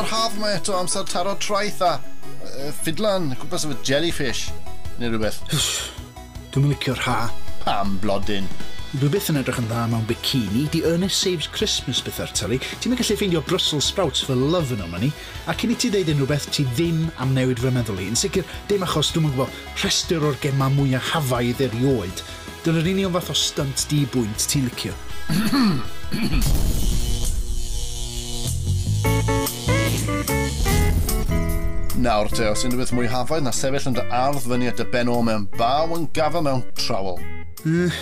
Yr haf mae eto amser taro traeth a uh, ffidlan cwmpas efo jellyfish neu rhywbeth. Dwi'n licio'r ha. Pam, blodyn? Dwi byth yn edrych yn dda mewn bikini, di Ernest Saves Christmas bethau'r tylu, ti'n mynd gallu ffeindio Brussels sprouts for love yn o'ma ni, a cyn i ti ddeud unrhyw beth, ti ddim am newid fy meddwl i, yn sicr, dim achos, dwi'm yn gwybod, rhestr o'r gemau mwyaf hafaidd erioed, Dyna'r union fath o stynt di-bwynt ti'n licio. Nawr te, os unrhywbeth mwy hafaeth na sefyll yn dy ardd fyny at dy ben ôl mewn baw yn gafel mewn trowel. Mm,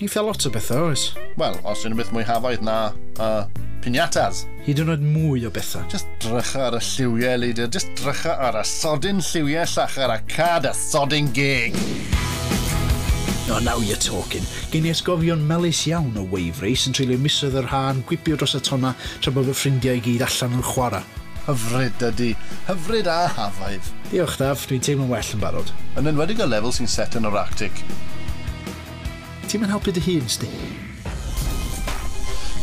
eitha lot o bethau, oes? Wel, os unrhywbeth mwy hafaeth na, uh, pinatas. Hyd yn oed mwy o bethau. Just drycha ar y lliwiau, Leader. Just drycha ar y sodyn lliwiau llachar a cad y sodyn gig. Oh now you're talking! Gen i atgofion melys iawn o Wave Race yn treulio misoedd yr ha yn gwibio dros y tonna tra bod fy ffrindiau i gyd allan yn chwara. Hyfryd, dydi. Hyfryd a hafaidd. Diolch Daf, dwi'n teimlo'n well yn barod. Yn enwedig y lefel sy'n set yn yr Arctic. Ti'm yn helpu dy hun, 'sti.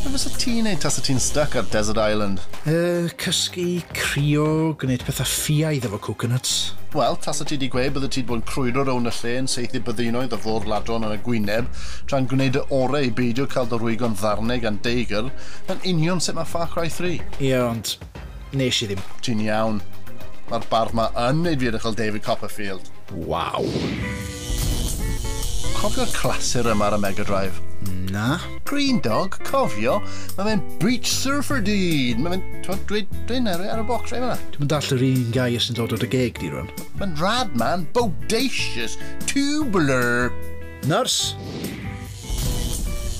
Be fysa ti'n neud tasa ti'n styc ar desert island? Yy, cysgu, crio, gwneud petha ffiaidd efo coconuts. Wel, tasa ti 'di gweud byddet ti 'di bod yn crwydro rownd y lle yn saethu byddinoedd o fôr-ladron ar y gwyneb, tra'n gwneud dy orau i beidio cael dy rwygo'n ddarnau gan deigr, 'na'n union sut mae Far Cry 3. Ie, ond Nes i ddim. Ti'n iawn. Mae'r bardd ma yn neud fi edrych fel David Copperfield. Waw. Cofio'r clasur yma ar y Mega Drive? Na. Green Dog, cofio, mae fe'n Beach Surfer dyn! Mae fe'n, twod, dweud dyn ar y box fe yma. Dwi'n dall yr un gair sy'n dod o dy geg di rwan. Mae'n rad man, bodacious, tubular. Nurse!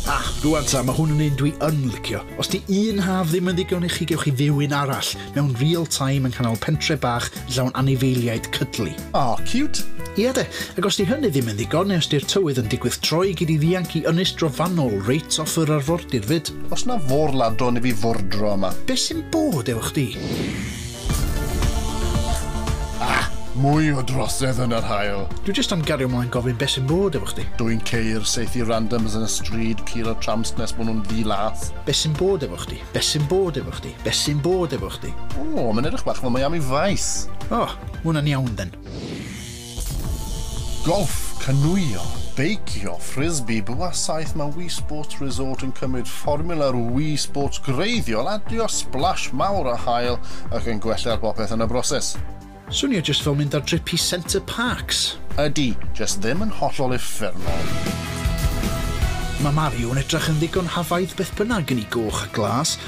Ah, rwan ta, mae hwn yn un dwi yn licio. Os di un haf ddim yn ddigon i chi gewch chi fyw un arall, mewn real time yn canol pentre bach yn llawn anifeiliaid cydlu. Aw, cute! Ia de, ac os di hynny ddim yn ddigon, neu os di'r tywydd yn digwydd troi, gei di ddianc i ynys drofannol reit off yr arfordir fyd. Os na fôr ladron i fi fordro yma. Be sy'n bod efo chdi? Ah! Mwy o drosedd yn yr haul! Dwi jyst am gario mlaen gofyn beth sy'n bod efo chdi. Dw i'n ceir, saethu randoms yn y stryd, pur o tramps nes bod nhw'n ddi-lath. Beth sy'n bod efo chdi? Beth sy'n bod efo chdi? Beth sy'n bod efo chdi? O, mae'n edrych bach fel Miami Vice! O, ma' hwnna'n iawn then. Golff, canŵio, beicio, ffrisbi, bwa saeth mae Wii Sports Resort yn cymryd fformiwla'r Wii Sports gwreiddiol, adio splash mawr a hael ac yn gwella ar bopeth yn y broses. Swnio jyst fel mynd ar drip i Center Parcs! Ydy, jyst ddim yn hollol uffernol. Mae Mario yn edrach yn ddigon hafaidd beth bynnag yn i goch a glas,